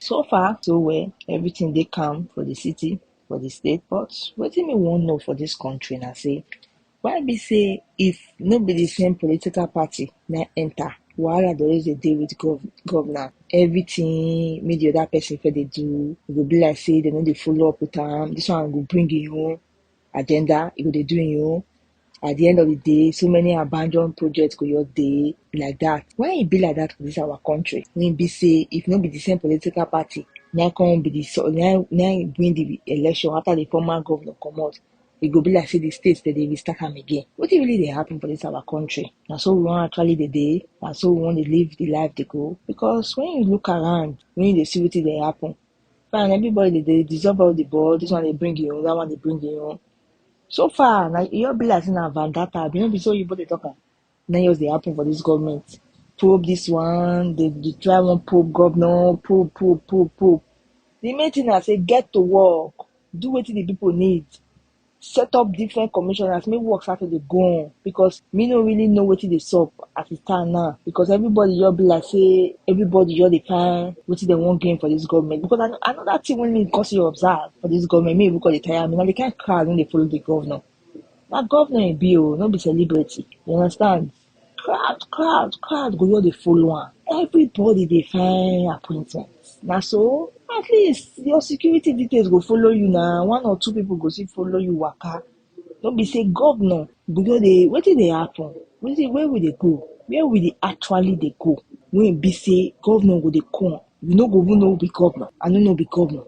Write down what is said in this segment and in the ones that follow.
So far, so well, everything they come for the city, for the state, but what do me want know for this country now say why be say if no be the same political party na enter wahala dey always dey dey with gov governor everything make the other person for they do e go be like say they no dey follow up with am this one go bring im own agenda, you go dey do you. At the end of the day, so many abandoned projects go your day like that. Why it e be like that for this our country? When be say if not be the same political party, now come be the so now now win the election after the former governor come out. It e go be like say the states that they restart them again. What really they happen for this our country? Now so we want actually the day, now so we want to live the life they go. Because when you look around, when you see what they happen, and everybody dey dey dissolve all the ball this one dey bring you that one dey bring you so far na e all be like say na vandata abi no be so oyibo dey talk am na just dey happen for this government probe this one dey dey try one probe governor probe probe probe probe the main thing na say get to work do wetin the people need set up different commissioners make work start to dey go on because me no really know wetin dey sup as e stand now because everybody just be like say everybody just dey find wetin dem wan gain for this government because I, another thing wey me cause you observe for this government me even cause dey tire me na the kind crowd wey dey follow the governor na governor e be o no be celebrity you understand Crowd, crowd, crowd go just dey follow am. Everybody dey find appointment. Na so at least your security details go follow you na one or two people go still follow you waka. No be say governor go just dey wetin dey happen? Wetin where we dey go? Where we dey actually dey go? Wey e be say governor go dey come, you no go even know who be governor. I no know who be governor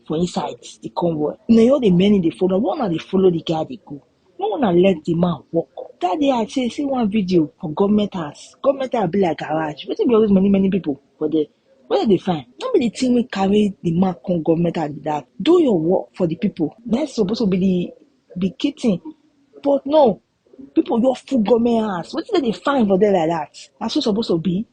for inside the convoy. Una just dey many dey follow am. Where una dey follow the guy dey go? Make una let the man work. That day I say see one video for government house. Government house be like garage. Wetin be all those many many people for there? Where they find? No be the thing wey carry the man come government house be that. Do your work for the people. That's supposed to be the the key thing. But no, people just full government house. Wetin dem dey find for there like that? Na so e suppose to be.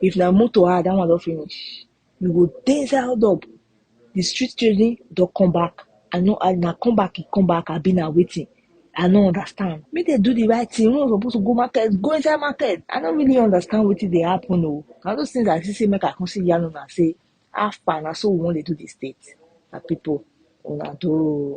If na motor ah that one don finish, you go dey inside hold up, the street children don come back, I no I na come back e come back abi na wetin, I no understand, make dem do the right thing, when una suppose to go market, go inside market, I no really understand wetin dey happen o, na those things I see sey make I come still yarn una sey how far na so we wan dey do the state, my people una do o.